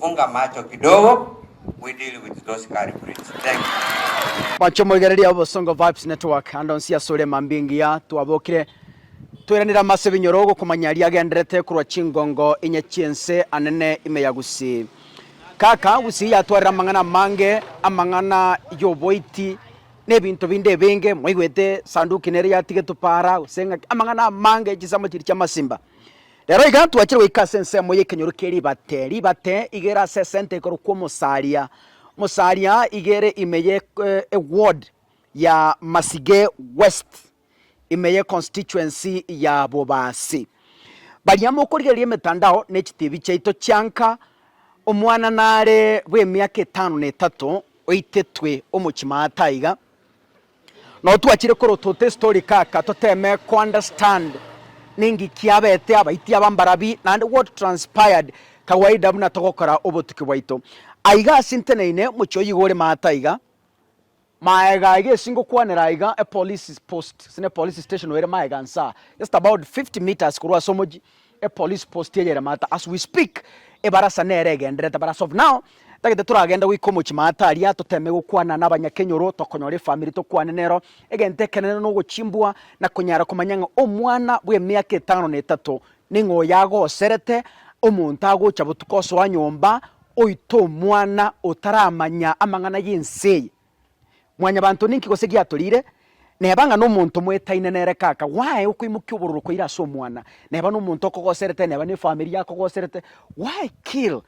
Funga macho kidogo we deal with those culprits. Thank you. Mwancho moigererie abo Bosongo Vibes Network ande onsi asore emambia engiya twabokire toiranire amo ase ebinyoro gokomanya aria agenderete korwa chingongo inye chi'ense anene ime ya Gusii. Kaka Gusii yatwarire amang'ana amange, amang'ana y'oboiti na ebinto binde ebinge, mwaigwete sanduki nere yatigetwe para gose ng'aki, amang'ana amange, chinsemo chiria chi'amasimba. Rero iga twachire goika ase ensemo y'ekenyoro kie ribate, ribate igere ase esenta ekorokwa Omosaria, Omosaria iga ere ime ye eward ya Masige West, ime ye constituency ya Bobasi. Baria mokorigereria emetandao ne chitibi chiaito chianka, omwana nare bw'emiaka etano na etato oitetwe omochie maata aiga, Nao twachire korotota estory kaka toteme ko understand ninki kiabete abaiti aba mbarabi naende what transpired kawaida buna togokora obotuki bwaito. Aiga ase nteneine mochie oyio iga ore maate aiga. Maega iga esi ngokwanera aiga epolice post gose ne police station ere maega nsaa just about 50 metres korwa ase omochie E police post ya Yeremata as we speak ebarasa nere egenderete but as of now tagete toragende goika omochie maata aria toteme gokwana na abanyakenyoro tokonyora efamiri tokwane nero egento ekenene nogochimbwa na konyara komanya ng'a omwana bw'emiaka etano na etato ning'o oyagoserete omonto agocha botuko osoa nyomba oite omwana otaramanya amang'ana y'ense eye. Mwanyabanto, ninki gose giatoriire? Neba ng'a nomonto mwetaine nere kaka, why okoimokia obororo koira ase omwana? Neba nomonto okogoserete, neba nefamiri yakogoserete, why kill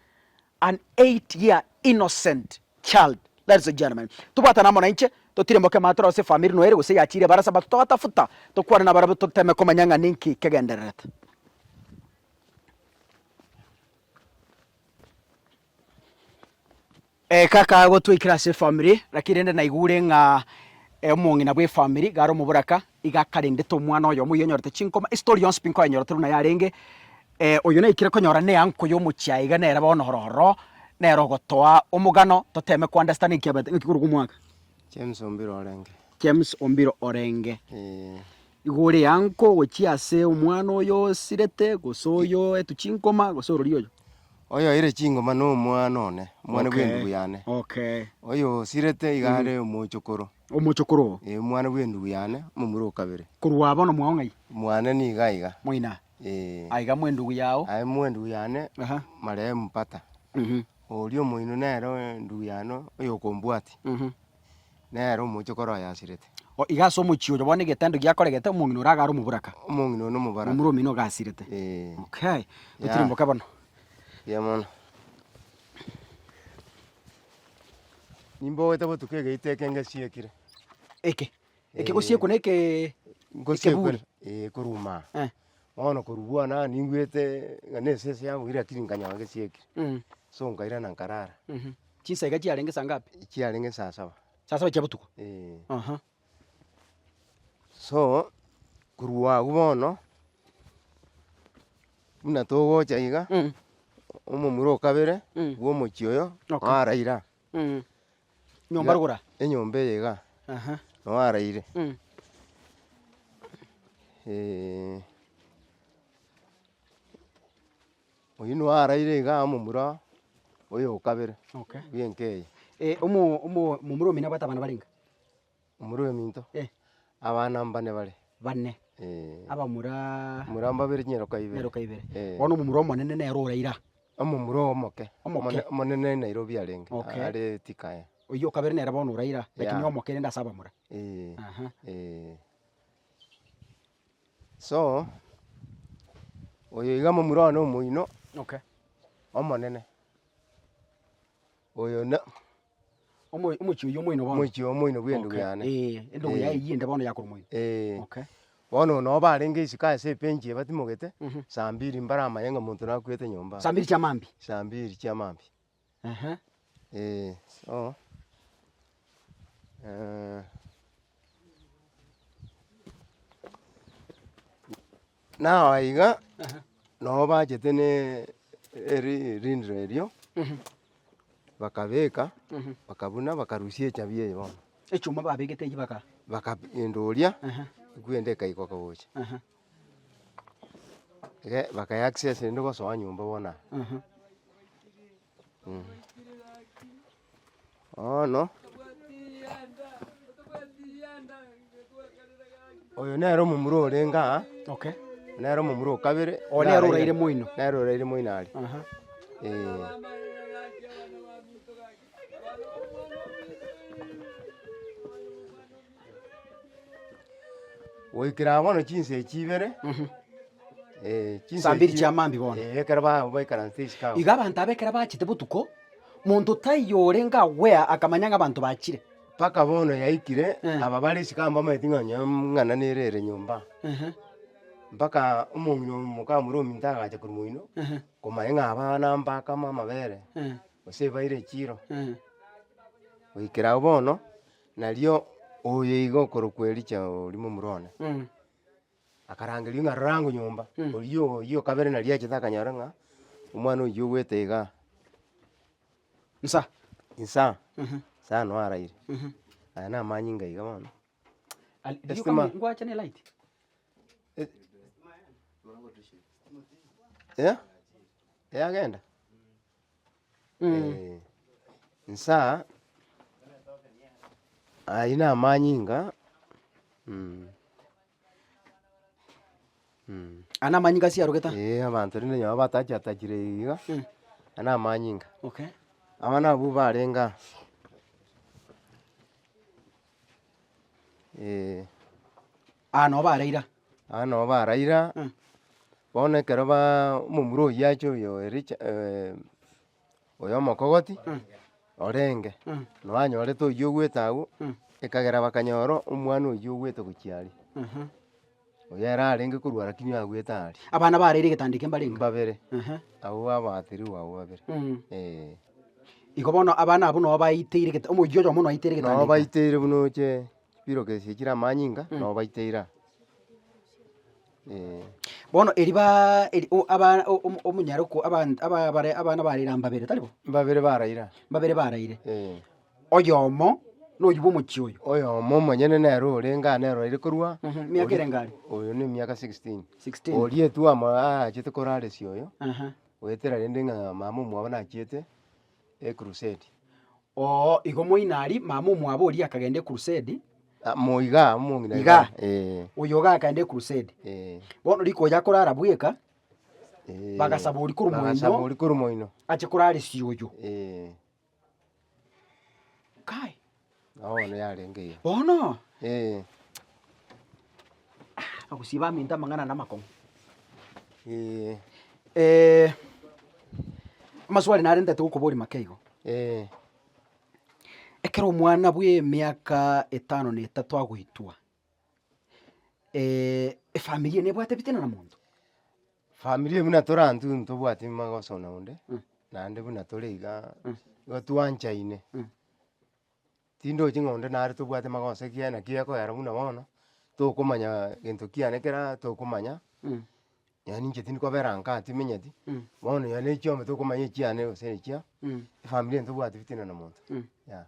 an eight year innocent child? Ladies and gentlemen, tobwatane amo nainche, totirimboke amaato aroro ase efamiri noyo ere gose eyachiire ebarasa, but togatafuta, tokwane nabarabwo toteme komanya ng'a ninki kegendererete. Kaka gotwaikera ase efamiri, lakini rende naigure ng'a omong'ina bw'efamiri iga are omoboraka, iga akarendete omwana oyomo oyio onyorete chinkoma, estori yonsi pi nkoenyorete buna yarenge, oyo naikire konyora na eanko y'omochie aiga nere bono ororo, nere ogotoa omogano, toteeme ko understand ekiabate ng'aki korwa omwaka. James Ombiro orenge. James Ombiro orenge. Eeh. Igo ore yanko gochia ase omwana oyo osirete, gose oyo oetwe chinkoma, gose orori oyo. Oyo oire chingoma na omwana one, omwana bwe endubu yane. Okay. Oyo osirete iga are omochokoro. Omochokoro oo. Ee, omwana bwe endubu yane, omomura o kabere. Korwa bono mwao ng'ai? Mwane nigo aiga. Moina. Ee. Aiga mwe endubu yao. Aye mwe endubu yane, marehemu Pata. Oria omoino nere endubu yane oyo okombwatia. nere omochie okore oyasirete. O iga ase omochie oyo bono egetendo giakoregete omong'ina oria agare omoboraka. Omong'ina oyo nomobaraka. Nomura omino ogasirete. Eeh. Okay. Yeah. Otirimboke bono. Mbuya mono. Nimbogete botuko egeita eke ngesiekire. Eke. Eke gosiekwa na eke Ngosiekwa ekeburi. eeh koruma aa. Eeh. Bono korwa bwane aa ningwete ng'a na esese yabogire lakini nkanyaa ngesiekire. Mh. So nkairana nkarara. Mh. Chinsaika chiarenge saa ngapi? Chiarenge saa saba. Saa saba chia botuko? Eeh. Aha. So, korwa agwo bono, buna togocha iga, Mm. omomura o kabere Mm. bwa omochie oyo Okay. naraire aa. Mm. Nyomba rogoro aa? Enyomba eye igaa, Aha. nao araire. Mm. Oyio nigo araire iga amo momura oyo o kabere bw'enka eye. Eh, omo omo momura omino abwate abana barenge? Omura oyominto? Eh. Abana mbane bare. Bane. Eh. Abamuraa. Mura mbabere chinyaroka ibere. Nyaroka ibere. Eh. Bono omomura omonene nere ore ira. Omomura omoke. Omoke. Omone- omonene Nairobi arenge. Okay. Are Thika eh. Oyio o kabere nere bono ore ira, lakini Yeah. omoke rende ase abamura. Eh. Aha. Eh. So, oyo iga momura one omoino Okay. omonene, oyo na Omo- omochi oyio omoino bono? omochi oyo omoino bw'endwe Okay, yane. eh, endogwa Eh. yaye eywo ende bono yakora omoino? Eh, Okay. bono ono oba arenge isiko ase ebench ebatimogete, Mhm. saa mbiri mbare amaye ng'a omonto nakwete nyomba. Saa mbiri chiamambia? Saa mbiri chiamambia. Nao aiga nabo bachete ne erindiro erio, bakabeka, bakabuna, bakarusia echabi eye bono. Echuma babegete echio baka. Bakagendoria, ekwende ekaikwa gocha. Iga bakaya access rende gosoa nyomba bono aa, mh. Bono, oyo nere omomura orenge aa, nere omomura o kabere, iga nere oraire moino, nere oraire moino are, eeh. Goikera aa bono chinsa echi ibere, chinsa Saa mbiri echi- chia maambia bono. Eh, ekero ba- baikaranse isiko abwo. Iga abanto aba ekero bachete botuko, monto taiyo orenge agwea akamanya ng'a abanto bachire. Mpaka bono yaikire, Eh. aba bare isiko aba mbamaeti ng'a onye mng'ana nere ere nyomba. Ehe, Mpaka omong'ina oyo mokamura ominto agacha korwa moino, ehe, komanya ng'a aba nambakama amabere, eh, gose ebaire echiro. eh. Goikera agwo bono. Nario oye iga okorokwa Elija oria momura one, akarangerio ng'a rora ango nyomba, oyio oyio o kabere nari achete akanyora ng'a omwana oyio ogwete iga nsa nsa nsa noo araire, aya na amanyinga iga bono. Estima ngwache ne light eh yagenda. Eh, nsa ayio namanyinga mm, mm. Aya namanyinga ase arogete. Ee, abanto rende nyoba batachi atachire eyio iga, aya namanyinga. Okay. Abana abwo barenge aa, eh. Aa nobo ara ira. Aa nobo ara ira, bono ekero baa omomura oyio achia oyo Richa oyo omokogoti orenge, noe anyorete oyio ogwete agwo, ekagera bakanyora omwana oyio ogwete gochia aria, oyo ere arenge korwa rakini agwete aria. Abana bare ere egetandeke mbarenge. Mbabere, abwo babatirwe abwo babere, eeh. Igo bono abana abwo nobaiteire gete omoyio oyomo noaiteire egetandeke. Nobaiteire buna oche. Chibiroka echi chire amanyinga Mm. nabo baite ira. Eh. Bono eri baa eri o- aba o- omo- omonyare okwo abant aba bare abana barire aa mbabere tari bo? Mbabere baraira, Mbabere baraire, eh. oyomo noyio bw'omochie oyo. Oyomo omonyene nere orenge aa nere oire korwa Mhm, miaka ere engaria? Oyo ne miaka sixteen. 16. Oria etwama aachete koraresia oyo, Aha. goetera rende ng'a mama omwabo nachiete ekrusedi. Oo, igo moino aria, mama omwabo oria akagenda ekurusedi. Amo iga, omong'ina iga. Iga. Ee. Oyo iga akagenda ekurusedi. Ee. Bono rikoya korara bweka, Ee. Bagasaba oria korwa moino. Bagasaba oria korwa moino. Ache koraresia oyo. Ee. Kai. Nao bono yarenge iga. Bono. Ee. Ogosiba aminto amang'ana na amakong'u. Amaswali narente togokoboria make igo. Ekero omwana bw'emiaka etano na etato agoitwa, efamiri eye nebwate ebitina na monto? Familia buna tore intwe intwe ntobwati magoso na onde, naende buna tore igaa, igo twanchaine. Tindochi ng'a onde nare tobwate magoso ekiagera ere naki ekoyera buna bono, tokomanya gento kiane kera tokomanya, yaani inche tindi kobera ankaa aa timenyeti, bono nonye ne chiombe tokomanya echiane gose echia, efamiri eye tobwati fitina na monto, yeah.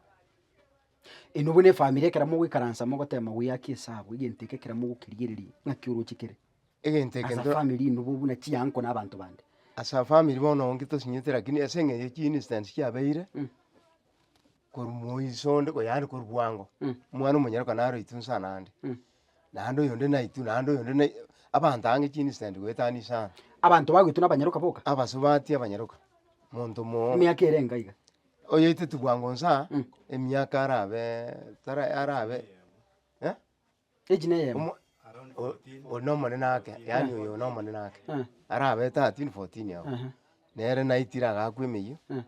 Eno buna efamiri ekero mogoikaransa mogoteba mawia aa ki ase abwo, egento eke ekero mogokerigereria, ng'aki oroche kere? Egento eke As a ntoro- family ino bo buna chianko na abanto bande. As a family bono onge tosinyete rakini ase eng'encho ya chi instance chiabeire, korwa moiso onde ko yaani korwa bwango, omwana omonyene ko naro itu nsa naende, naende oyonde na itu naende oyonde na itu, abanto aange chi incident goetania inse ang'e. Abanto bago itu na abanyaroka boka? Abasubati abanyaroka, monto omoo. Emiaka ere enga iga? Oyoeteti bwango nsa, emiaka arabeee tara arabe eh. Age na eyemo. Omo- o- o- one omonene ake, yaani oyo one omonene ake, Eh. arabe thirteen fourteen ao, Aha. nere naitire agakwa emeyia, Eh.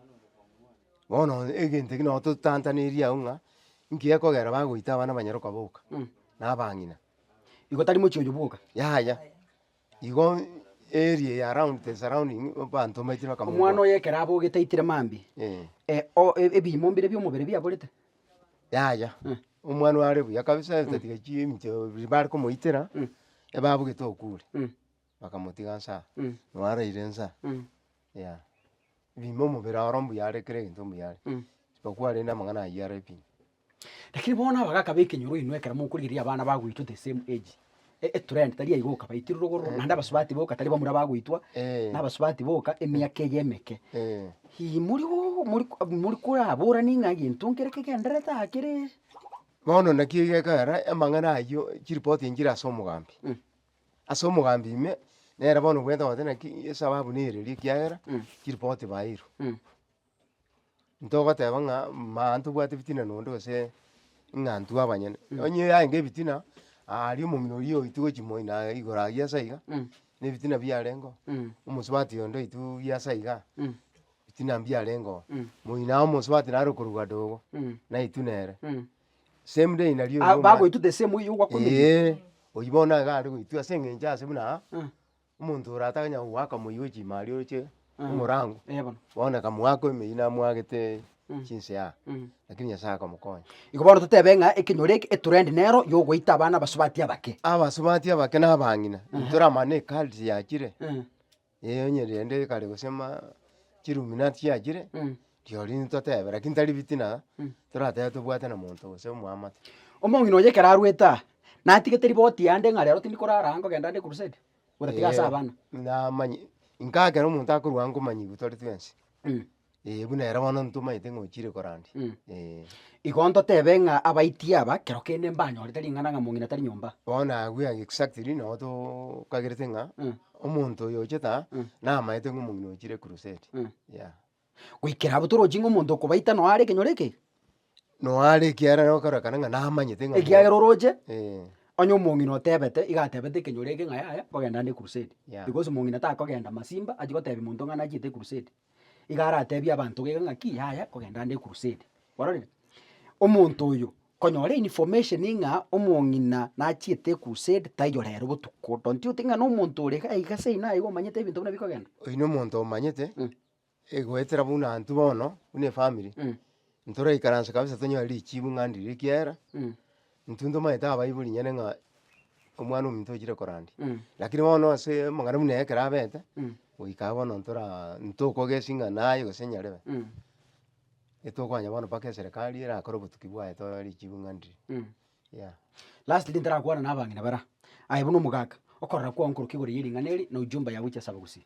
bono egento eke nabo totantaneirie agwo ng'a nki gekogera bagoita abana abanyaroka boka, Mm. na abang'ina. Igo tari mochie oyo bwoka. Yaya. Igo area ya round the surrounding abanto mbaetire bakamobua. Omwana oye ekero abogete aitire mambia, Eh, eh, o- e- ebiimo mbire bi'omobere biaborete. yaya, Eh. omwana oyo are buya kabisa esatiga chiminto biri bare komoitera, Mm. ebabugete okure, Mm. bakamotiga nsa, Mm. nao araire nsa, Mm. yeah. Ebiimo omobere oro mbuya are kera egento mbuya are, Mm. isipokuwa rende amang'ana ayio are pi. Lakini bono aba gakaba ekenyoro inwe ekero mokorigereria abana bagoitwa the same age. E- etrend tari aiga oka baitire rogororo naende abasubati boka tari bamura bagoitwa Eh. na abasubati boka emiaka eye emeke. Eh. Ii mori go mori ko mori koraborani ng'a egento nkere kegenderete aa kere. Bono naki egekogera amang'ana ayio chiripoti echi chire ase omogambi. Mm. Ase omogambi ime, nere bono obwenerete gose naki esababu nere eria ekiagera chiripoti baeirwe. Mm. Ntogoteba ng'a maa ntobwate ebitina nonde gose ng'a intwe abanyene, onye yarenge ebitina, aria omong'ina oria oitwe gochia moino naye igoro aye ase iga, na ebitina biarengo, omosubati onde oitwe oria ase iga, ebitina mbiarengo, moino aye omosubati nare okorugwa dogo, naitwe nere, same day nario oyio omwate. bagoitwa the same way ogwakumenya. Eeh, oyio bono nigo aria goitwa ase eng'encho ase buna aa. Omonto ore ataganya goaka moyio bwe chimari oroche omorango, bono na kamwako emeyio amwagete chinse aa, lakini Nyasaye akamokonya. Igo bono totebe ng'a ekenyoro eke etrend nero yogoita abana abasubati abake. Abasubati abake na abang'ina, ntoramane ecults yachire, onye rende kare gose ma chiluminati chiachire. Rirorio nintotebe, lakini tari bitina, toratebe tobwate na monto gose omwamate. Omong'ina oye ekero arwete aa, natigete riboti yande ng'a rero tindi korara aa nkogenda ande crusade, buna tiga ase abana. Namanya, inka ekero omonto akorwa aa nkomanyigwa tore twensi, eh buna ere bono ntomanyete ng'a ochire korandia, eh. Igo ntotebe ng'a abaiti aba, kero kende mbanyorete ring'ana ng'a mong'ina tari nyomba. Bono agwo exactly nabo tokagerete ng'a omonto oyo ochete aa, namaete ng'a omong'ina ochire crusade, yah. goikera abwo toroche ng'a omonto okobaita noyo are ekenyoro ekegima. Noyo are ekiarera okorekana ng'a namanyete ng'a. Ekiagera oroche, eh. Onye omong'ina otebete, iga atebete ekenyoro eke ng'a yaya nkogenda ande crusade. Yeah. Because omong'ina takogenda masimba achi gotebia monto ng'a nachiete crusade. Iga aratebie abanto gaiga ng'a ki yaya nkogenda ande crusade. Kwarorire? Omonto oyo konyora information ng'a omong'ina nachiete ecrusade taiyo rero botuko. Don't you think ng'a na omonto ore iga aiga ase ina iga omanyete ebinto buna bikogenda. Oyi na omonto omanyete. Egoetera buna intwe bono, buna efamiri, ntoraikaranse kabisa tonyore richibu ng'andi riria ekiagera, intwe ntomanyete abaibori nyene ng'a omwana ominto ochire korandia, rakini bono ase amang'ana buna aya ekero abete, goika iga bono ntoraa ntokogesi ng'a naye gose nyarebe, etokoanya bono mpaka eserekari erakore obotuki bwaye tonyore richibu ng'andi riria, yeah. Lastly ntarakwana na abang'ina bara, aye buna omogaka, okorora kwao nkorokigoro ya ering'ana eri, na ujumbe yago chia saba gusii.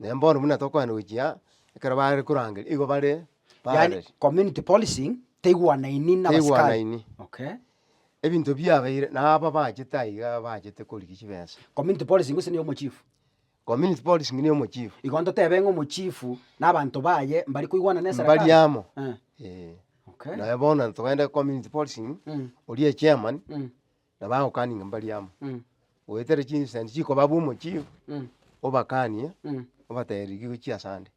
Naende bono buna tokoenda gochia aa, ekero bare korangeria nigo bare yani parallel. community policing teigwanaini na abasikari Teigwanaini. okay. Ebinto biabeire na aba bachete aiga bachete korigia chibesa. Community policing gose niyo omochief? Community policing niyo omochief. Igo ntotebe ng'a omochifu na abanto baye mbari koigwana na eserekari? Mbari amo, Eh, eh. okay. Naye bono togende community policing, Mm. oria echairman, Mm. na bagokaninga mbari amo, goetera chinsaani chikoba abwo omochie, obakanie, obatebia rigia ogochia ase ande,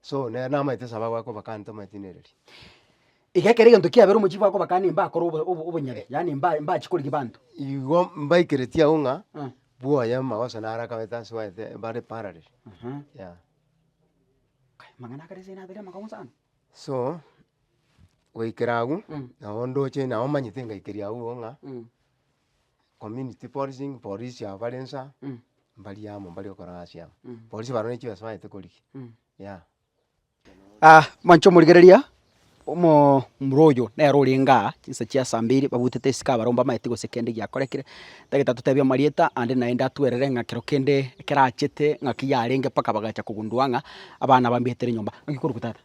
so nere namaete esaba goaka obakane tomoetinereria. Iga ekero egento kiabera omochie goaka obakane mbakore obo- obo- obonyene, yaani mba- mbachi korigia banto. Igo mbaikeretie agwo ng'a bwoye amagoso naro akabete ase oete bare parallel, yea. Amang'ana akare ase nabeire amakong'u sana. So, goikera agwo, nabo ndoche nabo omanyete ngaikeria agwo igo ng'a, community policing, polisi aba bare inse aa, mbari amo mbare gokora egasi amo. Polisi barabwo ne chibeesa bagete korigia, yea. mwanche komorigereria, omoomura oyo nere orenge aa, chinsa chia saa mbiri, babutete esike abarabwo mbamaete gose kende giakorekire. Tagetatotebi amarieta ande naende atwerere ng'a kero kende ekerachete ng'aki yarenge mpaka bagacha kogundua ng'a abana bambeetere nyomba. Naki korokwa tata?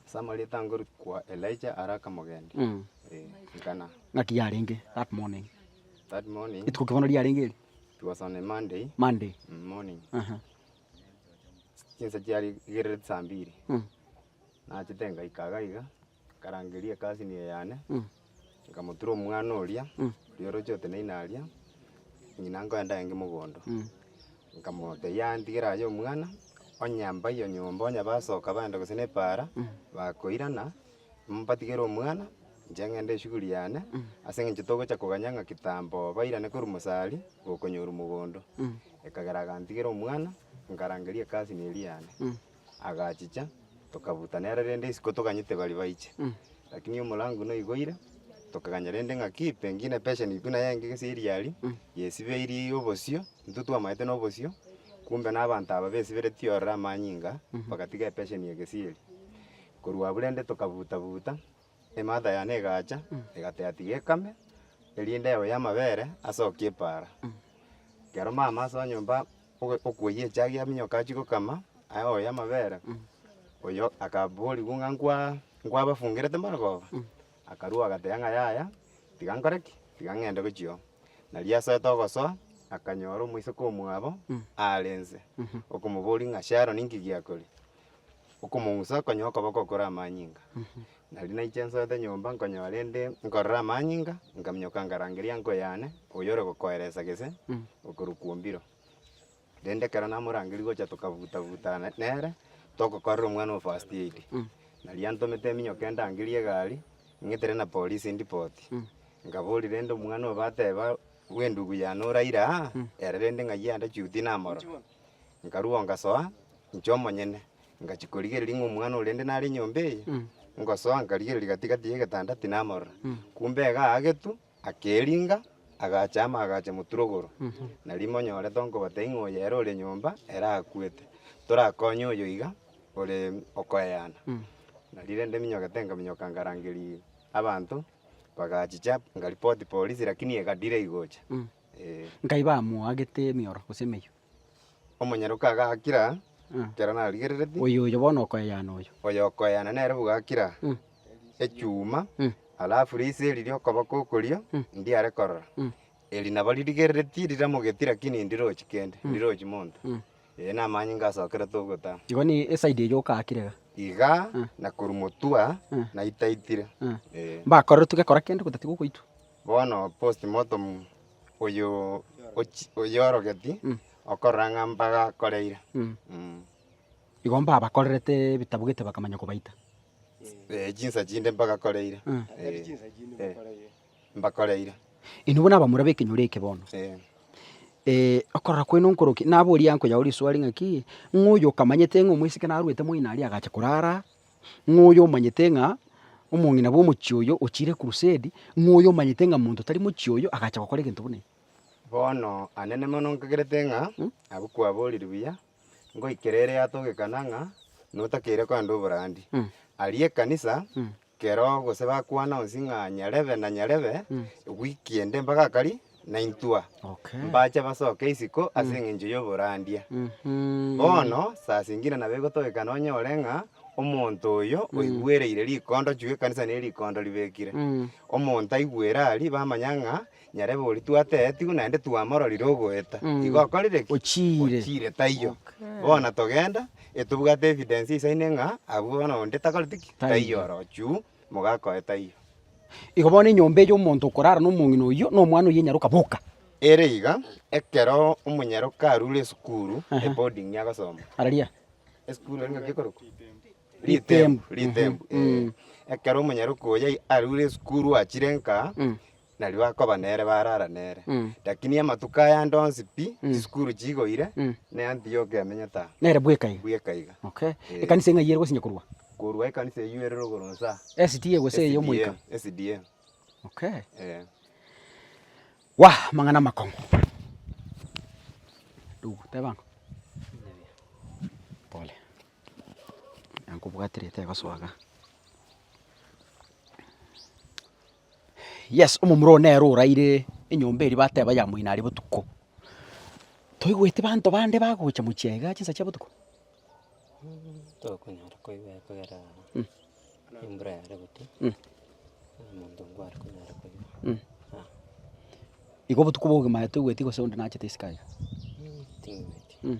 Ase amarieta ngorikwa Elijah are akamogendi. Mm. Eh, ngana. Ng'aki yarenge that morning. That morning, Rituko ki bono riarenge eri? it was on a Monday Monday. mm, morning. Aha. Chinsa chiarigerere saa mbiri. Mm. Nachete ngaika iga iga. Nkarangeria egasi niyo yane, nkamotura omwana oria, oria oroche oteneine aria, ng'ina nkoenda aye inge mogondo. Nkamotebia, Yaya ntigera aye omwana, onye mbaiyo nyomba onye basoka baenda gose nepaara, bakoirana, mbatigere omwana, inche ng'ende eshughuli yane, ase eng'encho togocha koganya ng'a kitambo bairane korwa mosari, gokonyorwa mogondo. Ekagera agantigera omwana, nkarangeria egasi niyo eria yane. Agachicha, tokabuta nere rende isiko toganyete baria baiche. Lakini omorango noigoire, tokaganya rende ng'a ki, pengine epesha nigo naye enge gese eriari, yesibeirie obosio, intwe twamaete nobosio, kumbe na abanto aba besiberetie ororo amanyinga, bagatiga epesheni egesieri. Korwa abwo rende tokabuta buta. Emata yane egacha, egateatia ekame, eria endebo y'amabere asokia epaara. Ekero mama ase onyomba ogo okoyia echagia yaminyoka achia gokama, aye oyo y'amabere, oyo akaborigwa ng'a nkwa nkwabafungerete marogoba, akarua agateba ng'a yaya, tiga nkore ki? Tiga ng'ende gochia oo. Nario asoete ogosoa, akanyora omoiseke omwabo aare inse, okomoboria ng'a Sharon inki giakoria? okomong'usa konyoo okoboko okure amanyinga. Nari naiche nsoete nyomba nkonyora rende nkorora amanyinga, nkaminyoka nkarangeria enko yane oyore gokoeresa gese okorwa kwombirwa. Rende ekero namorangeria gocha tokabuta buta ne- nere, togokorera omwana oo first aid. Nari antomete minyoke ndangerie egari, ng'etere na polisi ndipoti. Nkaboria rende omwana oo bateba bw'endugu yane oraire aa, ere rende ng'ai ande chiuti namorore. Nkarua ngasoa, inche omonyene, ngachia korigereria ng'a omwana oria inde nare enyomba eye, ngosoa nkarigereria gati-gati y'egetanda tinamorora. Kumbe iga aagetwe, akeringa, agachama agacha moturogoro. Nario imonyore tonkobotebia ng'a oyo ere ore nyomba, ere akwete. Torakonye oyo iga, ore okoeana. Nario rende minyokete nkaminyoka nkarangeria abanto, bagachicha, nkaripoti polisi, rakini egadire gocha. Nkai bamoagete emioro gose emeyio. Omonyaroke aga akira, ekero narigerereti. Oyo oyo bono okoeana oyo. Oyo okoeana nere boga akira, echuma, alafu riise eri ri'okoboko okorio ndiare korora. Eri nabo ririgerereti riramogeti rakini ndirochi kende, ndirochi monto. Ee namanye ngasokerete ogotama. Igo ne eside eyio okaakire iga. Iga na korwa motwe naitaitire. Mbakorerwe togekora kende gotatiga ogoitwa. Bono postmortem oyo ochi oyorogeti okorora ng'a mbagakoreire mm. Igo mbabakorerete ebitabu gete bakamanya kobaita. Eh chinsa chinde mbagakoreire Mm. eh, eh, mbakoreire Inwe buna abamura b'ekenyoro eke bono, eh. eh, okorora kwaino nkorokia? Naboria nkoyao riswali ng'aki, ng'a oyo okamanyete ng'a omosike narwete moino aria agacha korara ng'a oyo omanyete ng'a omong'ina bw'omochie oyo ochiire Kurusedi, ng'a oyo omanyete ng'a monto tari mochie oyo agacha gokora egento buna eke. Bono, anene mono, nkagerete ng'a abwo kwaboorire buya, ngoikera ere yatogekana ng'a notakeire koenda oboraandi. Aria ekanisa kero gose bakwana onsi ng'a nyarebe na nyarebe, wiki ende mpaka akari, naintwa, mbache basoke isiko ase engencho y'oborandia. Bono sasa ingina nabo egotogeka nonyore ng'a omonto oyo oigwereire rikondo chugwa ekanisa nere rikondo ribekire, omonto aigwere aria bamanya ng'a nyarebe oria twateetigwe naende twamororire ogoeta, igo okorire ki? Ochiire. Ochiire taiyo. Bono togenda etobwate evidence isaine ng'a abwo bono onde takoreti ki? Taiyo orochio. mogakoe taiyo. Igo bono enyomba eye y'omonto okorara nomong'ina oyio na omwana oyio enyaroka boka. Ere iga, ekero omonyaroka arure esukuru, eboarding agosoma, Araria. esukuru ere ngaki ekorokwa? Ritembo. Ritembo, ee. Ekero omonyaroka oyo arure esukuru achire nka, nario bakoba nere barara nere. Lakini amatuko ayande onsi pi chisukuru chigoire, ne Antiokia emenyete aa. Nere bweka iga. Bweka iga. Okay. Ee. Ekanisa ng'ai ere gosinya korwa? Korwa ekanisa eyio ere rogoro inse aa. SDA gose eye omoika? SDA, SDA. Okay. Ee. Wa amang'ana amakong'u. Ndugu, teba ang'o? Pole. Nankobwatire etebaso iga. Yes, omomura oo nere oraire enyomba eria bateba ya moino aria botuko. Toigweti banto bande bagocha mochie aiga chinsa chia botuko? Tokonyara koigwa ekogera embura yare gotia omonto ngware konyara koigwa ah. Igo obotuko bwa obogima toigweti gose onde nachete isiko aiga? Ting'wetie.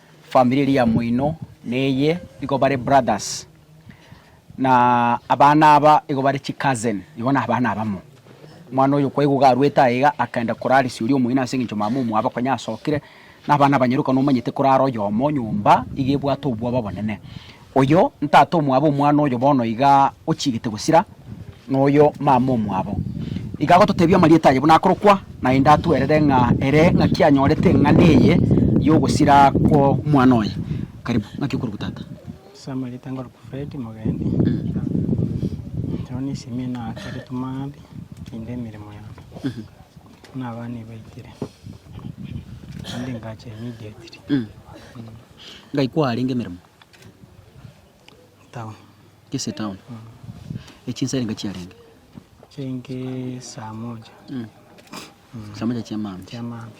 Family eria ya moino neye igo bare brothers, na abana aba igo bare chicousin, igo nabana abamo. Omwana oyo kwaigwa iga arwete aye iga akaenda koraresia oria omoino ase eng'encho mama omwabo konya asokire, na abana abanyaroka nomanyete korara oyomo nyomba iga ebwate obwoba obonene. Oyo ntata omwabo omwana oyo bono iga ochigete gosira, noyo mama omwabo. Iga agototebia amarieta aye buna akorokwa, naende atwerere ng'a ere ng'aki anyorete eng'ana eye y'ogosira kw'omwana oye. Karibu, ng'aki okorokwa tata? Ase amarieta nkorokwa Fred Mogendi. Nyowe nisimire naakeretwe maambia naende emeremo yane buna abana ebaitire naende engacho immediately. Ngai kwarenge emeremo? town. Kisii town e chinsa erenge chiarenge chirenge saa moja mm. mm. saa moja chiamambi chiamambi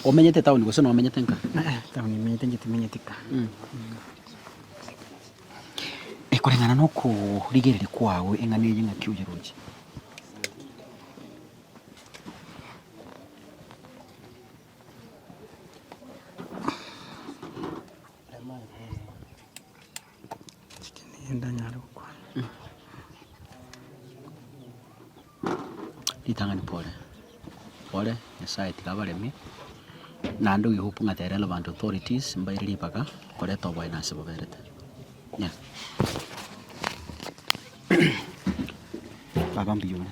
omenyete town gose nomenyete nka eh, eh, town imenyete nje timenyete ka mm. mm. ekoreng'ana nokorigereri kwago eng'ana eye ng'aki oyeroche Ritang'ani pore, pore, Nyasaye tiga abaremie, naende oyo hope ng'a the relevant authorities mbaire ribaga koreta oboyena ase boberete. Nyaa. Baba mbuya ore.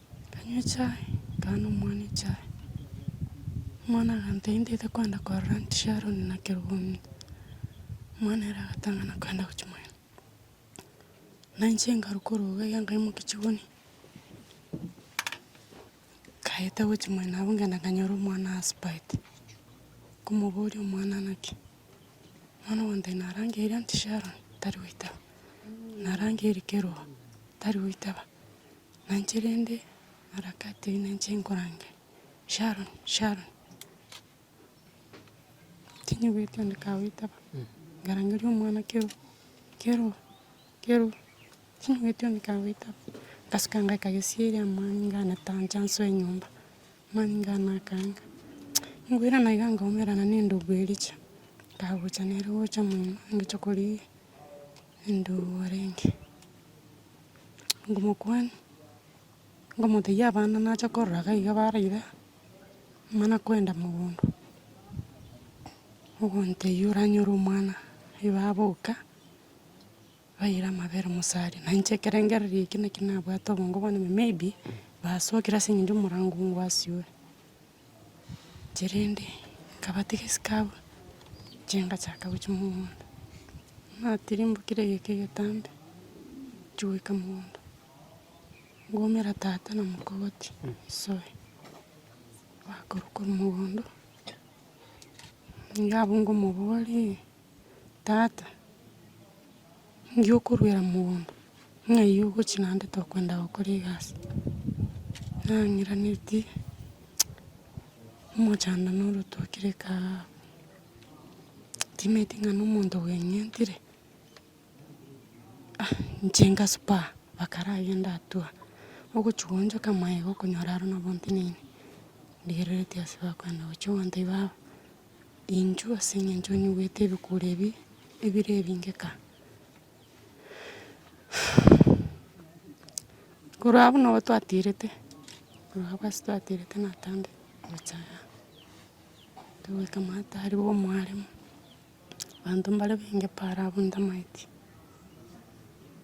Nkanywa echae, nkaba nomwana echae. Omwana agantebia ntaete kogenda korora inche Sharon na kerong'ombe. Omwana ere agatang'ana kogenda gochimoira. Na inche nkarwa korwa iga iga nkaimokia chigoni, nkaeta gochimoira nabo nkagenda nkanyora omwana asubete. Nkomoboria omwana naki? Omwana ogantebia narangeirie aunty Sharon, tari goitaba, narangeirie kerong'o, tari goitaba. Nainche rende harakati eyio nainche nkorangeria, Sharon, Sharon, tinyigweti onde kagoitaba, nkarangeria omwana kero, kero, kero, tinyigweti onde kagoitaba, ngasuka ngaika gesieri amo nganeta inche nsoe nyomba, mani ngana akaanga, nkoirana iga nkaumerana nendogu eria chia, nkagocha nere gocha mono, nkagocha koria. Naende oborenge, ngomokuani, ngomotebia abana nacha koraga iga bare iga, mana koenda mogondo, ogontebia oranyore omwana oyo baboka, baira amabere mosari, na inche ekerengererio ekio naki nabwate obongo bono maybe, basokire aseng'encho omorango oo ngwasiore. chirende nkabatiga esike abwo, inche ngachaka gochia mogondo. Natirimbokire egeka egetambe, nchi goika mogondo, ngomera tata na mokogoti nsoe, bakorwa korwa mogondo, nigo abwo ngomoboria. Tata, inki okoruera mogondo? Ng'ai ogochie naende tokoenda gokora egasi? Nang'iranetie omochando na orotoki reka aa, ntimeti ng'a na omonto bweng'entire, ah inche inga spur, bakarabe ndatua, ogochia goonchoka maega okonyora aro nabo nteneine, ndigereretie ase bakoenda gochia gontebia baba. Inchuo ase engencho nyigwete ebikuro ebi ebire ebinge ka. Korwa abwo nabo twaterete, korwa abwo ase twaterete natange omochaya, togoika maata aria bwa omwaremo, abanto mbare bainge paara abwo ntamaeti.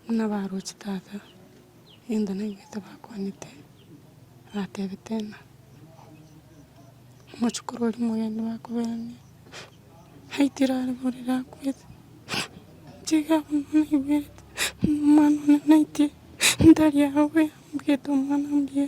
Buna baroche tata, egento naigwete bakwanete, batebete ng'a omochokoro oria omogeni bakoberanie, aitire are borere akwete, inche iga buna naigwete, omwana one naitie, ntari agwo boyambwate omwana mbuya.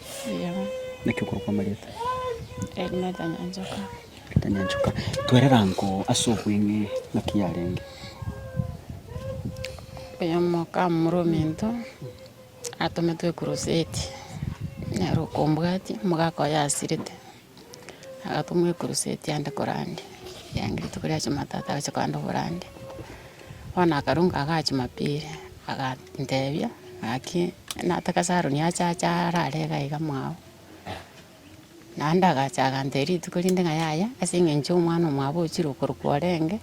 Naki okorokwa amarieta? Ritanyanchoka. Twerera nko ase obweng'e naki yarenge? Oyomoka omomura omento atometwe ekuruseti, nere okombwatia, omogaka oye asirete. Agatoma ekuruseti ande korande, ekiagera rituko ria jumatatu agachia kogenda oborande, bono akarunga agaa jumapili, agantebia ng'aki nataka saruni ache ache arare iga iga mwao. Naende agacha agantebia rituko rinde ng'a yaya, ase eng'encho ya omwana omwabo ochire okorokwa orenge,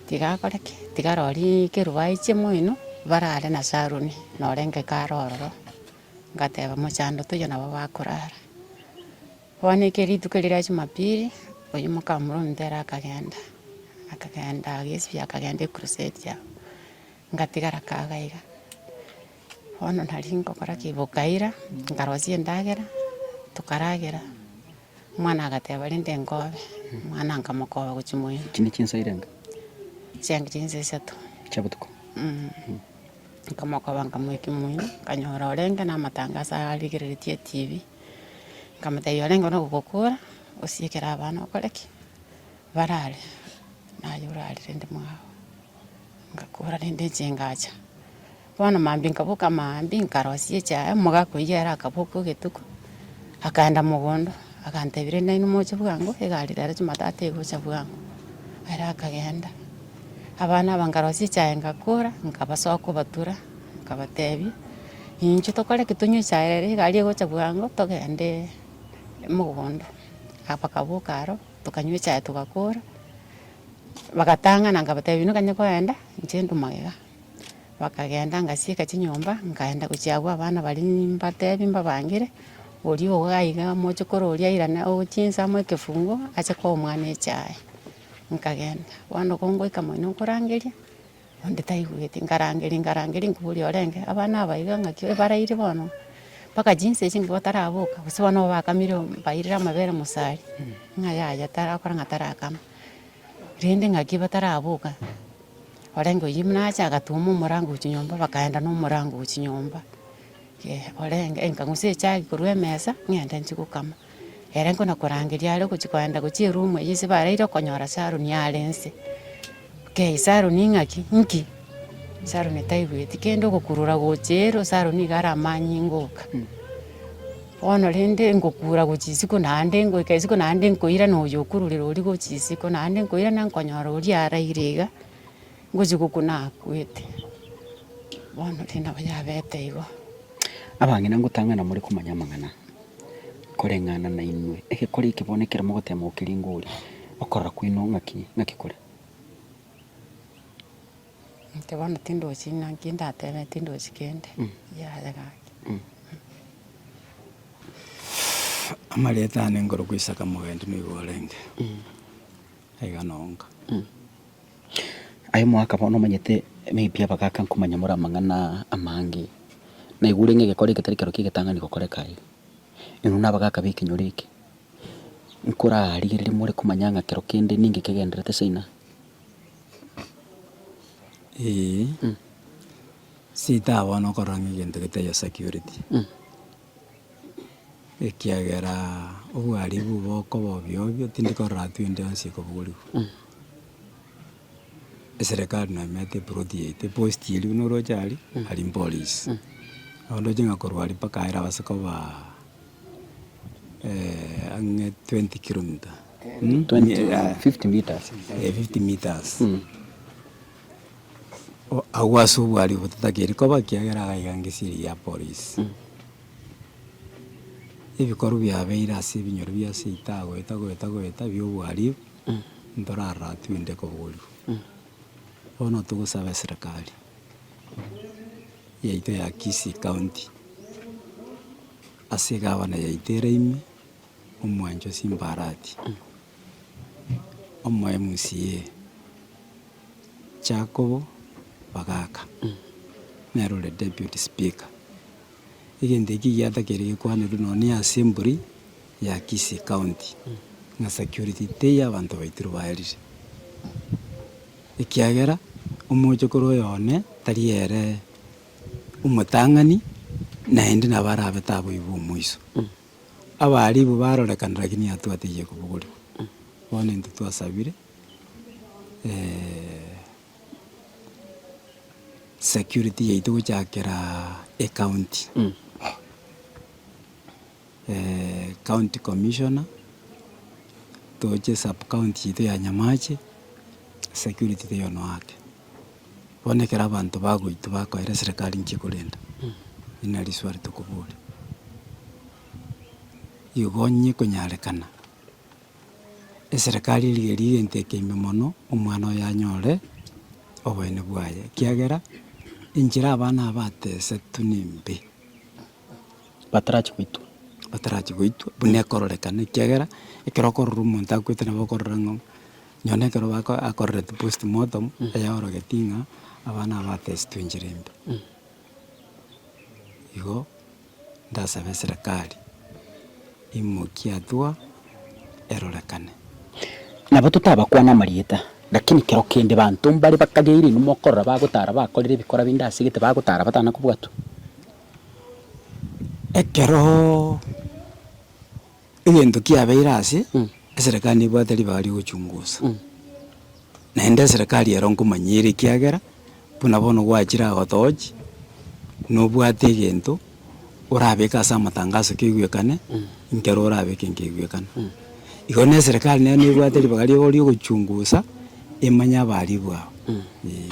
tiga akore ki? Tiga arorie ekeruba aiche moino, barare na saruni norenge kare ororo. Ngateba, Mochando toiyo nabo bakorara. Bono ekero rituko erio ria Jumapili, oyio moka Murumbe ere akagenda, akagenda agesibia akagenda ecrusade yabo, ngatigara kaga iga. Bono nari nkogora ki? Bokaira, nkarosia endagera, tokaragera. Omwana agateba, Rinde nkobe. Omwana nkamokoba gochia moyio. Echi ne chinsa irenge. Chianga chinsa isato. Chia botuko. Nkamokoba nkamoekia moyio, nkanyora orenge na amatangaso arigereretie etibi. Nkamotebia, orenge no gokora, osiekere abana okore ki? Barare. Naye orarire rende mwao. Ngakora rende inche ngacha. Bono Maambia nkaboka amaambia, nkarosia echae, omogaka oyio ere akaboka ogetuko, akaenda mogondo, agantebia nainwe moche bwango, egari rero Jumatatu egocha bwango. Ere akagenda. Abana aba nkarosia echae ngakora, nkabasoa kobatura, nkabatebia, inche tokore ki tonywe echae ere, egari egocha bwango, togende mogondo. Bakaboka aro, tokanywa echae togakora, bagatang'ana nkabatebia, inwe kanye koenda, inche nde omogega. Bakagenda ngasieka chinyomba, nkaenda gochia agwo abana baria nimbatebi mbabangere, oria ogo aiga mochokoro oria airane ogochia inse amoe ekefungo ache koa omwana echae. Nkagenda, bono kongoika moino nkorangeria, onde taigweti, nkarangeria nkarangeria nkoboria orenge, abana aba iga ng'aki ebarairi bono mpaka chinsa echi nigo bataraboka, gose bono nigo bakamire bairire amabere mosari, ng'a yaya tarakora ng'a tarakama. Rende ngaki bataraboka, orenge oyio buna acha agatoma omorango gochia nyomba, bakaenda na omorango gochia nyomba, eh, orenge nkang'usa echagi korwa emesa, ng'ende nchie gokama. Ere nkona korangeria are ogochia koenda gochia eroom eyio ase baraire okonyora Saroni are nse. Okay, Saroni ng'aki? Nki? Saroni taigweti kende ogokurura gochia ero, Saroni iga aramanye ngoka. Bono rende ngokuura gochia isiko naende, ngoika isiko naende nkoirana oyo okururera oria gochia isiko naende, nkoirana nkonyora oria araire iga, ngochia gokuna akwete. Bono rende nabo yabete igo. Abang'ina ngotang'ana more komanya amang'ana koreng'ana nainwe. Egekore eke bono ekero mogoteema gokeringori, okorora kwaino ng'aki? Ng'aki kore? Inche bono tindochi ng'a nki ndatebe, tindochi kende, yaya gaki. Amareeta ane nkorokwa Isaka Mogenti noigo orenge. Aiga nonka. Aye mwaka bono omanyete maybe abagaaka nkomanya more amang'ana amange. Naigure ng'a egekore eketari ekero kia egetang'ani gokoreka aye. Inwe na abagaaka b'ekenyoro eke, nkorarigereria more komanya ng'a kero kende ninki ekegendererete China. Eeh sitaha bono okorora ng'a egento getari o security, ekiagera obwaribu bokoba obio obio tindi korora tu ende yonsi ekobogorigwa. Eserekari nonya emanyete eploti yaito eposti eria buna oroche aria, aria mpolice. Naende oche ng'a korwa aria mpaka aye erabase kobaa. ang'e twenty kilomita fifty metres eh fifty metres o- agwo ase obwaria obo totakeiri koba ekiagera iga iga ngesi eye ya polisi. Ebikorwa biabeire ase ebinyoro bia seita goeta goeta goeta bia obwaribu ntorarora twende koborio. Bono togosaba eserekari. yaito ya Kisii County ase egavana yaito eraime omwancho Simbarati, omo MCA Jacobo Bagaka nere ore Deputy Speaker. Egento ekio giatakeire gekwanerwe nonye ase embori. ya Kisii County ng'a security teiyo abanto baitire baerire ekiagera omochokoro oyo one tari ere omotang'ani naende nabo arabe taboigwe omoiso. Abaribu barorekana lakini atwo ataiyo kobogorigwa. Bono intwe twasabire security yaito gochakera ecounty. County Commissioner, toche sub county yaito ya Nyamache, security teiyo noake. Bono ekero abanto bagoitwa bakoera eserekari nki ekorenda, eri nari swali tokobori. Igo onye ekonyarekana, eserekari eria eria egento eke ime mono, omwana oye anyore oboyene bwaye, ekiagera enchera abana aba atesetwe nembe. batarachi goitwa. Batarachi goitwa, buna ekororekana, ekiagera ekero okorora omonto akwete nabo okorora ng'a onye na ekero bako akorereti post mortem, eyorogeti ng'a abana aba batesitwe enchera embe. Igo ndasabe eserekari emokia eatua erorekane. Nabo totabakwane amarieta, lakini kero kende banto mbare bakageire inwe mokorora bagotara bakorire ebikora binde ase egete bagotara batana kobwatwa. Ekeroo egento kiabeire ase, eserekari nebwate ribaga riogochungusa, naende eserekari ero nkomanya ere ekiagera, buna bono gwachire agotogochia, nobwate egento orabeke ase amatangaso kegoekane, nkero orabeke nkegoekana. Igo na eserekari nero nebwate ribaga riabo riogochungusa, emanye abaribu abo, eeh.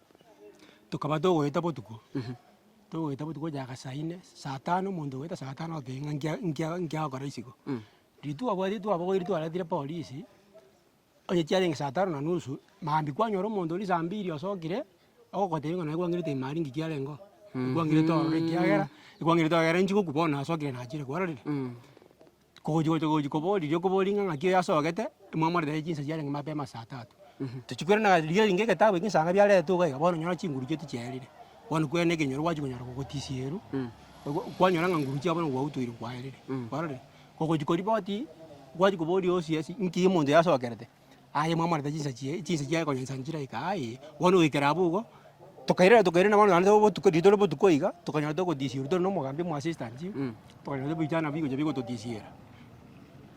tokaba togoeta botuko, togoeta botuko onye agasaine, saa tano omonto ogoeta saa tano oteba ng'a nkia nkia nkiagokora isiko. Rituko abwate twabogoire twaretire polisi, onye chiarenge saa tano na nusu, maambia kwanyora omonto oria saa mbiri osokire, ogogotebia ng'a naye kwang'erete ime aria ng'ai kiarenge oo, ekwang'erete ororo ekiagera, ekwang'erete ororo inche gokwa bono nasokire nachire, kwarorire? Kogochi gocha gochi kobori riria okobori ng'a ng'aki oyo asogete, mwamorera aye chinsa chiarenge mapema ase atato. Tochi korende na riria rinde egetabu ekio esaga biaretwe iga iga bono nyora chinguru chietu chiaerire, bono kwene ekenyoro gwachia konyara gogotisia eru, ogo kwanyora ng'a nguru chiabo nigo gwautoire kwaerire, kwarorire. Ogochi koria botii, gwachia koboria osie ase nki omonto oyo asokerete. aye mwamorenta chinsachi eh, chinsachi aye konya nsanchire aye kaa eh, bono goikera abwo igo, tokairera tokairera bono naende obotuko riria tore obotuko iga, tokanyora togotisiwa tore na omogambi omo assistant, tokanyora ebichana bigocha bigototisiera.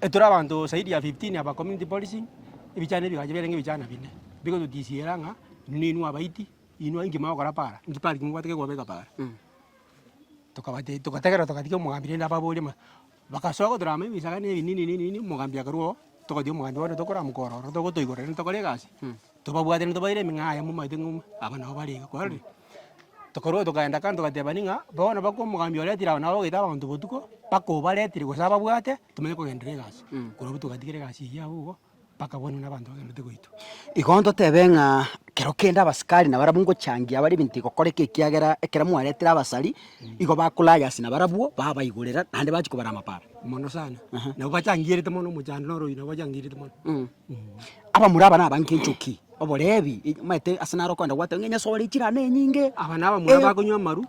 Etore abanto zaidi ya fifteen aba community policing, ebichana ebigacha biarenge ebichana bine, bigototisiera ng'a inwe inwe abaiti, inwe inki mogokora paara, inki parking mobwate kekobeka paara. Tokabatebia togategerera togatiga omogambi rende ababorie ng'a. Bagasoa gotura amo ebisaga na ebinini na ebinini, omogambi akarua oo, togochia omogambi bono tokoramoka ororo, togotoigorera rende tokore egasi, tobabwate rende tobaire emeng'aa yamo omanyete ng'a aba nabo bare iga. Kwarorire? Tokarua togaenda kando togatebani ng'a bono baka omogambi oretire aba nabo bagoita abanto botuko, baka obaretire gose ababwate, tomanye kogenderera egasi. Korwa abwo togatigera egasi eyio abwo igo. bakagwanwa nabanto bagenderete goitwa. Igo ntotebe ng'a kero kende abasikari nabarabwo ngochangia abare ebinto bigokoreka ekiagera ekero mwaretire abasari igo bakorage ase nabarabwo babaigorera naende bachia kobara amaparo. Mono sana, nabo bachangierete mono omochando na oroyio nabo bachangierete mono. Abamura aba nabange enchoki. Oboreebi, omanyete ase naro okogenda gwateba ng'a enyasore chirane enyinge. Aba nabamura bakonywa amaru,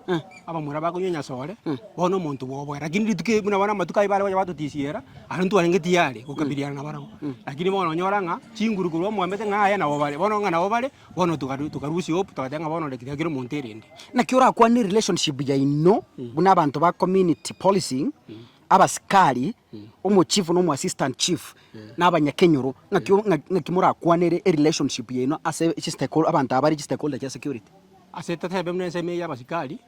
abamura bakonywa enyasore, bono omonto bwoboe. Rakini rituko eri buna bono amatuko ayio baregocha batotisiera, aro ntwarenge tiyari gokabiliana nabarabwo. Rakini bono onyora ng'a chinguru korwa omwambete ng'a aye nabo bare, bono ng'a nabo bare, bono tokaru tokarusia hope, togateba ng'a bono reki tiakire omonto erende. Naki orakwane relationship yaino buna abanto ba community policing, Abasikari, omochifu na omoassistant chief, na abanyakenyoro, ng'aki ng'aki morakwanere erelationship yaino ase chistakeholder abanto abare chistakeholder chia security? Ase totebe buna ensemo eye ya abasikari,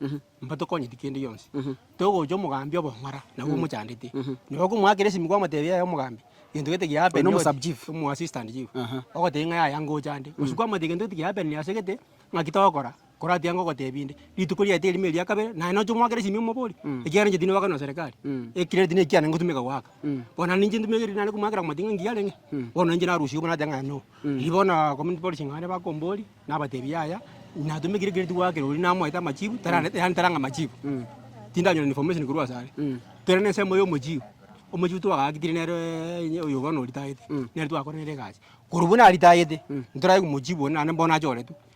mbatokonyeti kende gionsi. Togocha omogambi obong'ora, nabwo omochandete. Nabo okomoakera esimi kwamotebia yaya omogambi, gento gete kia happen Oino sub chief. omoassistant chief, ogoteba ng'a yaya ngochande. Gose kwamotebia gento gete kia happenire ase gete, ng'aki togokora? Koratia ngogotebi inde, rituko riaito erimo eria kabere, naye nocha omoakera esimia omobori, Mm. ekiagera inche tindi wakana serikali, Mm. ekirere tindi ekiane ngotumeka goaka. Mm. Bono naende inche ntumeke riri naende komoakera komati ng'a ngiya arenge, Mm. bono inche narusia obo nateba ng'a no. Mm. Riria bono community policy ng'ane bakombori, nabatebi yaya, natumekire ekirere tigoakire oria namoete amachibu, tararete yaani tarang'a amachibu. Mm. Tindanyora information korwa asare. Mm. Kere na ensemo ya omochiu, omochiu twagaaketire nere inye oyo bono oritayete, Mm. nere twakorere egasi. Korwa buna aritayete, ntoranyie komochibu onde naende mbono achoretwe.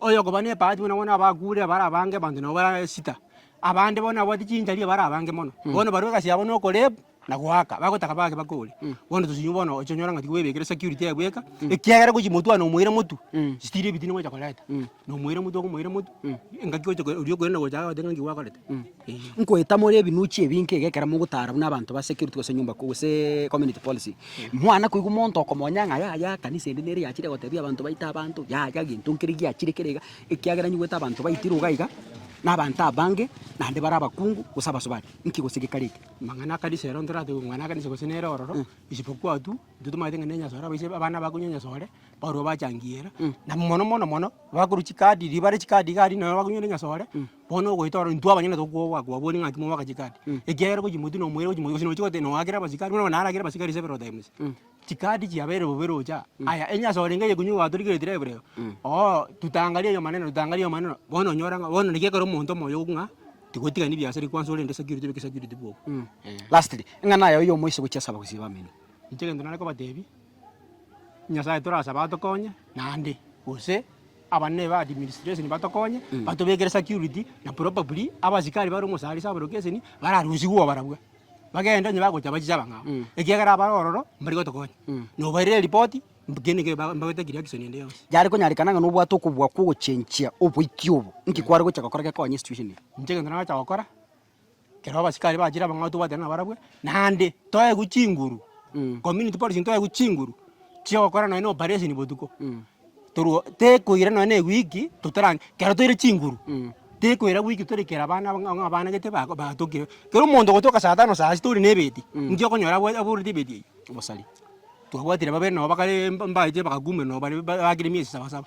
Oyokoba nebahati buna bono abakuurire barabange abanto nabo bare sita. Abande bono nababwate chinchari barabange mono. Bono barue egasi yabo nokorebu na goaka, bagotaka bake bakore. Bono tochia nyuma bono ochia onyore ng'a tiga oebekire security ebweka, ekiagera gochia motware na omoira motu, stiri ebitini gocha koreta. Na omoira motu okomoira motu, engaki gocha oria okoirana gocha agogoteebia ng'a nki gwakorete. Nkoeta more ebinuchi ebi nka iga ekero mogotaara buna abanto ba security gose nyomba kuu gose community policy. Mwana koigwa monto okomonya ng'a yaya ekanisa ende nere yachire gotebia abanto baite abanto, yaya gento nkere giachire kere iga, ekiagera nyigwete abanto baitirwe iga iga, na abanto abange naende bare abakungu gose abasubati. Nki gose gekareti? Amang'ana akanisa ero ntoratebi omwana akanisa gose nere ororo, isipokua tu, intwe tomanyete ng'a ne nyasore abaise abana bakonywia nyasore, barwo bachangiera, na mono mono mono, bakorwa chikadi, ribare chikadi iga aria nonya bakonywere nyasore. Bono ogoita oro intwe abanyene tokoba kwabori ng'aki mogoaka chicard, ekiagera gochimotwe na omoerio gochimoka gose nochi gote noakera abasikari buna bono naragere abasikari several times. Chicard chiabeire bobe rocha, aya onye ase orenge oyokonywa gwatorigereti rebe rero, oo tutangarie ayo maneno tutangarie ayo maneno, bono onyora ng'a bono naki ekero omonto omoyo ogo ng'a tigotigani biasara eki kwanza orende security obe security bwoka. Lastly, ing'ana yaye oyomo ase gochia saba gose bamino. Inche egento nare kobatebia. Nyasae torasaba atokonye naende gose abanene ba administration batokonye batobekere security na probably abasikari bare omosare ase aborokeseni bararusigwe obarabwo bagende onye bagocha bache ase abang'ao ekiagera abare ororo mbari gotokonya na obairere eripoti kende neke mbagotaki reaction ende yonsi. Yare konyarekana ng'a nobwate okobua kw'ogochenchia oboikia obo, inki kware gocha gokora gekonye esituesheni eye? Inche egento naragocha gokora. Ekero abasikari bachire abang'ao tobwate ng'a nabarabwo, naende toegwe chinguru, community policing toegwe chinguru chi'ogokora nonya na operation botuko, torwa oo tekoira nonya na ewiki totarang ekero toire chinguru, tekoira wiki tore kera abana abang'a abang'a abana gete bako batokire. Kero omonto ogotoka saa tano saa sita ore na ebeti, nki okonyora abwate aboreti ebeti eywo? Obosari. Twabwatire babe nabo bakare mbache bagakumera nabo bare ba bakire miezi saba saba.